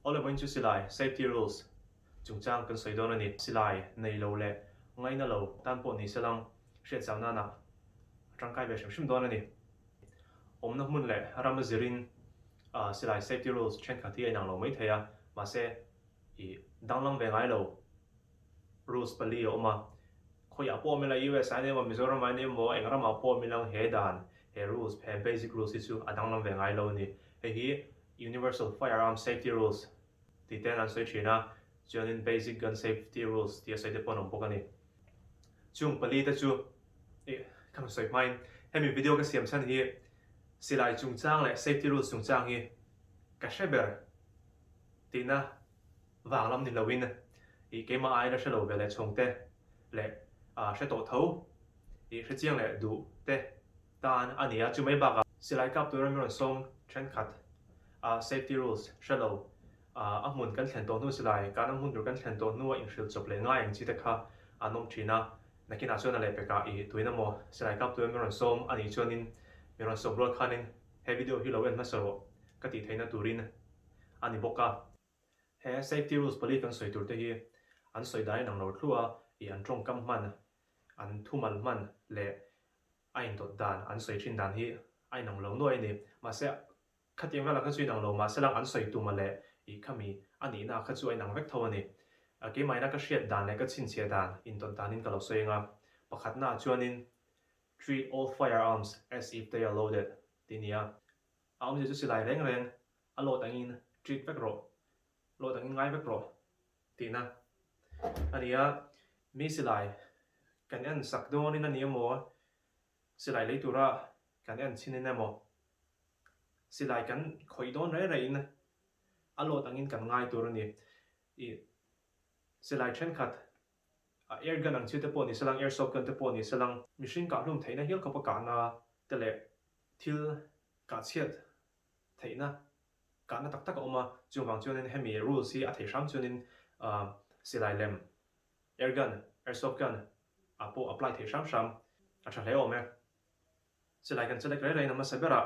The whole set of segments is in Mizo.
Aw le mawiin chu silai, safety rules, chungchang kan sawi dawn a ni. Silai nei lo leh ngai na lo tan pawh ni se lang, hriat chau nana a tangkai ve hrim hrim dawn a ni. Awmna hmun leh ram a zirin silai safety rules thenkhat hi a inang lo maithei a, mahse, ih danglam ve ngai lo. Rules pali a awm a, khawiah pawh awm ila US ahin emaw Mizoram ahin emaw eng ramah pawh awm ilang he dan, he rules, he basic rules hi chu a danglam ve ngai lo a ni. Hei hi Universal Firearms Safety Rules tih te'n an sawi thin a, chuanin Basic Gun Safety Rules tih a sawi te pawh an awm bawk a ni. Chung pali te chu ih ka hmu sawi hmain hemi video ka siam chhan hi silai chungchang leh safety rules chungchang hi ka hre ber tihna Vang lam ni loin i keimah aina hre lo ve leh chhawng te leh hre tawh tho i hre chiang leh duh te tan a ni a, chu mai bakah silai kap tura min rawn sawm thenkhat a safety rules hre lo a hmun kan thlen tawh hnu silai kana hmun tur kan thlen tawh hnu a in hrilh chawp leh ngai ang chi te kha an awm thin a, nakin ah chuan a leh pekah i tuina maw silai kap tura min rawn sawm a nih chuan in min rawn sawm rual khan in he video hi lo en hmasa rawh ka tih theihna turin. a ni bawk a. He safety rules pali kan sawi tur te hi an sawi dai nang lo thlu a, i an tawngkam hman, an thumal hman leh a indawt dan an sawi thin dan hi a inang lo nuai a ni. Mahse, khatiang vel ang kha chu inang lo mahse lang an sawi tuma leh i khami a nihna kha chu a inang vek tho a ni. Keimahina ka hriat dan leh ka chhinchhiah dan indawt danin ka lo sawi anga pakhatnaah chuanin, Treat all firearms as if they are loaded tih a ni a. A awmzia chu silai reng reng a lawt angin treat vek rawh, lawt angin ngai vek rawh tihna a ni a. Mi silai kan en sak dawnin a ni emaw, silai lei tura kan en chhin in emaw, silai kan khawih dawn rei rei in a lawt angin kan ngai tur a ni. I silai thenkhat A er gan ang chiute pawh ni selang, er sawp gan te pawh ni selang, mihring kahhlum theihna hial khawpa kahna te leh thil kahchhiat theihna kahna tak tak a awm a, chuvang chuanin hemi rules hi a thei hram chuanin silai lem er gan, er sawp gan ah pawh apply thei hram hram a tha hle awm e. Silai gan che lek rei rei na hmasa berah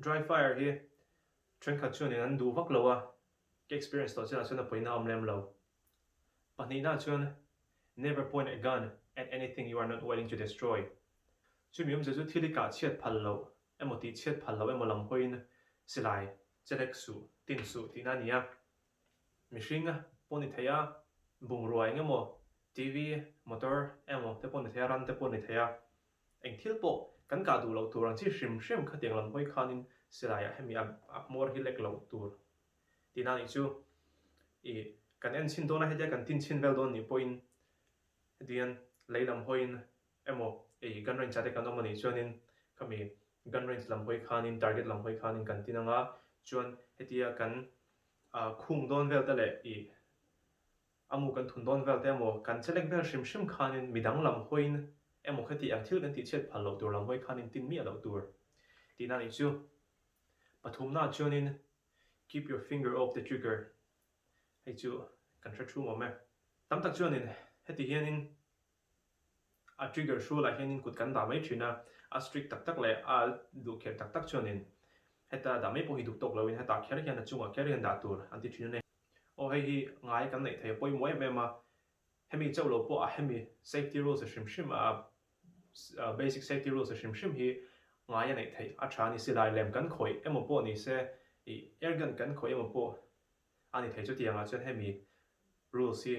Dry fire hi thenkhat chuan in an duh vak lo a, ka experience tawh chianah chuan a pawiin a awm lem lo. Pahnihnaah chuan Never point a gun at anything you are not willing to destroy. Chu mi awmzia chu thil i kah chhiat phal loh emaw tih chhiat phal loh emaw lam hawiin silai che lek suh, tin suh tihna a ni a. Mihring pawh ni thei a, bungrua eng emaw, TV, motor emaw te pawh ni thei a, ran te pawh ni thei a. Eng thil pawh kan kah duh loh tur ang chi hrim hrim kha tiang lam hawi khanin silaiah hemi a hmawr hi lek loh tur ti na nih chu i kan en chhin dawna hetia kan tin chhin vel dawn nih pawhin heti hian lei lam hawiin emaw ei gun range ah te kan awm a nih chuanin khami gun range lam hawi khanin target lam hawi khanin kan tin anga chuan hetia kan khung dawn vel te leh i Amu kan thun dawn vel te emaw, kan che lek vel hrim hrim khanin midang lam hawiin emaw khati ang thil kan tih chhiat phal loh tur lam hawi khanin tin miah loh tur ti na nih chu. Pathumnaah chuanin keep your finger off the trigger hei chu kan hre thu mawm e. Tam tak chuanin heti hianin. A trigger hru lah hianin kut kan dah mai thin a, a strict tak tak leh a duh kher tak tak chuanin heta dah mai pawh hi duk tawk loin heta kher hian a chungah kher hian dah tur an ti thin a ni. Aw hei hi ngai kan neih thei a pawimawh em em a, hemi chauh lo pawh a hemi safety rules a hrim hrim a basic safety rules a hrim hrim hi ngai a neih theih a tha a ni. Silai lem kan khawih emaw pawh ni se, airgun kan khawih emaw pawh a ni thei chutianga chuan hemi rules hi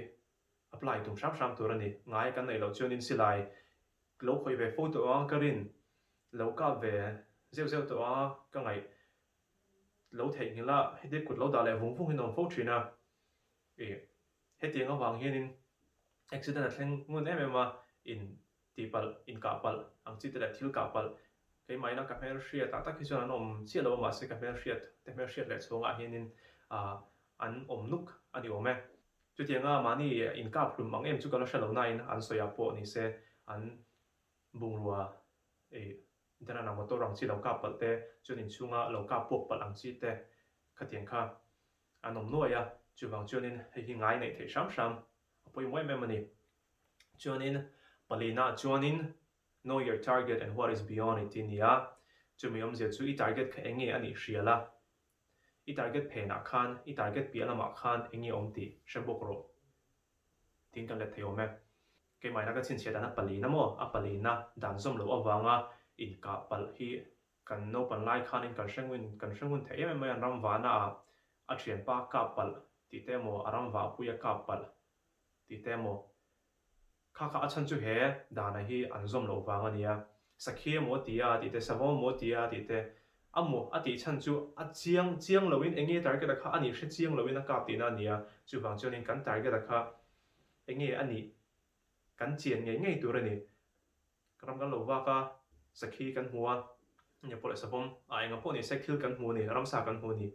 Apply tum hrang hrang tur a ni. Ngai kan neih loh chuan in silai lo khawih ve fo tawh a, ka rin lo kap ve zeuh zeuh tawh a, ka ngaih lo theih nghilh a, heti kut lo dah leh vung vung in awm fo thin a. Ih, hetiang avang hian in accident a thleng ngun em em a, in Ti palh, inkah palh, ang chi te leh thil kah palh, keimahina ka hmel hriat ah tak hi chuan an awm chiah lo a mahse ka hmel hriat te hmel hriat leh chhungah hianin ah an awm nuk a ni awm e. Chutiang a mahni inkap hlum ang em chu ka la hre lo nain an sawiah pawh ni se an bungrua ei Dhanana motor ang chi lo kap palh te chuan inchhunga lo kap puak palh ang chi te khatiang kha an awm nuai a, chuvang chuanin hei hi ngai neih theih hram hram a pawimawh em em a ni. Chuanin pali naah chuanin Know your target and what is beyond it tih a ni a, chumi awmzia chu i target kha eng nge a nih hrial a, i target phenah khan, i target piah lamah khan eng nge awm tih hre bawk rawh tiin kan let thei awm e. Keimahina ka chhinchhiah dan a palina maw, a palina dan zawm loh avanga inkah palh hi kan naupan lai khanin kan hre ngun, kan hre ngun thei em em mai an ram vahnaah a thianpa kap palh tih te emaw a ram vahpui a kap palh Tih te emaw kha kha a chhan chu he danah hi an zawm loh vang a nia. Sakhi emaw ti a tih te, savawm emaw ti a tih te, a mu a tih chhan chu a chiang chiang lo in enge target a kha a nih hre chiang lo in a kap tihna a nia. Chuvang chuan in kan target a kha enge a nih kan chian ngei ngei tur a ni. Ka ram kan lo vak a, sakhi kan hmu a, enge pawh leh savawm a eng a pawh ni sek thil kan hmu ni, ramsa kan hmu ni.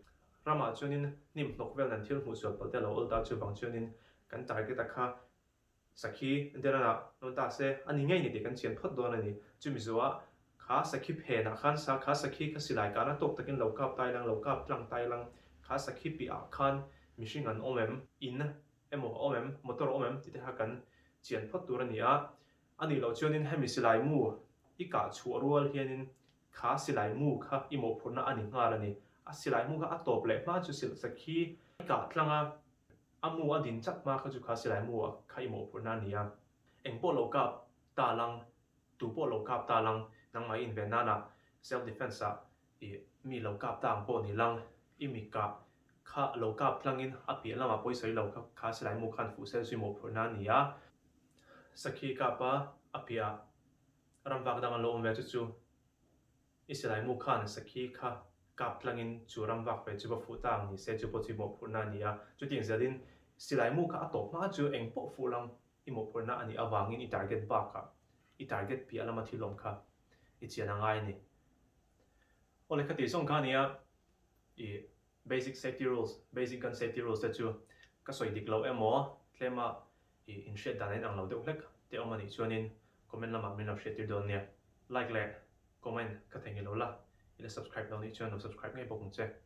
Ramah chuanin hnim hnawk vel nan thil hmuhsual pawlh te a lo awl ta chuvang chuanin kan target a kha sakhi Deranah rawn ta se a ni ngei ni tih kan chian phawt dawn a ni. Chumi zuaah kha sakhi phenah khan sa kha sakhi kha silai kana tawk takin lo kap tai lang, lo kap tlang tai lang, kha sakhi piahah khan mihring an awm em, in emaw a awm em, motor a awm em tite kha kan chian phawt tur a ni a, Anih loh chuanin hemi silai mu i kah chhuah rual hianin kha silai mu kha i mawhphurhna a ni nghal a ni. A silai mu kha a tawp leh hma chu silh sa khi i kah tlang a, a mu a din chat hma kha chu kha silai mu kha i mawhphurhna a ni a. Eng pawh lo kap ta lang, tu pawh lo kap ta lang nangmah i inven nanah self defence ah I mi lo kap ta ang pawh ni lang, i mi kah kha lo kap tlangin a piah lamah pawh i sawi lo kha kha Silaimuk khan fuhsel chu i mawhphurh na a ni a. Sakhi kap a a piahah ram vak dang an lo awm ve chu chu i Silaimuk khan sakhi kha kap tlangin chu ram vak ve chu va fuh ta ang ni se chu pawh chu i mawhphurh na a ni a. Chutih zel in Silaimuk kha a tawp hma chu eng pawh fuh lang i mawhphurh na a nih avangin i target bakah i target piah lama thil awm kha i chian a ngai ni. Aw le kha tih zawng kha a nia, i basic safety rules, basic gun safety rules te chu ka sawi dik loh emaw, tlema i inhriat dan a inang lo deuh hlek te awm a nih chuanin comment lamah min lo hriattir dawn nia. Like leh comment ka thei ngilo la, i la subscribe lo nih chuan lo subscribe ngei bawk ang che.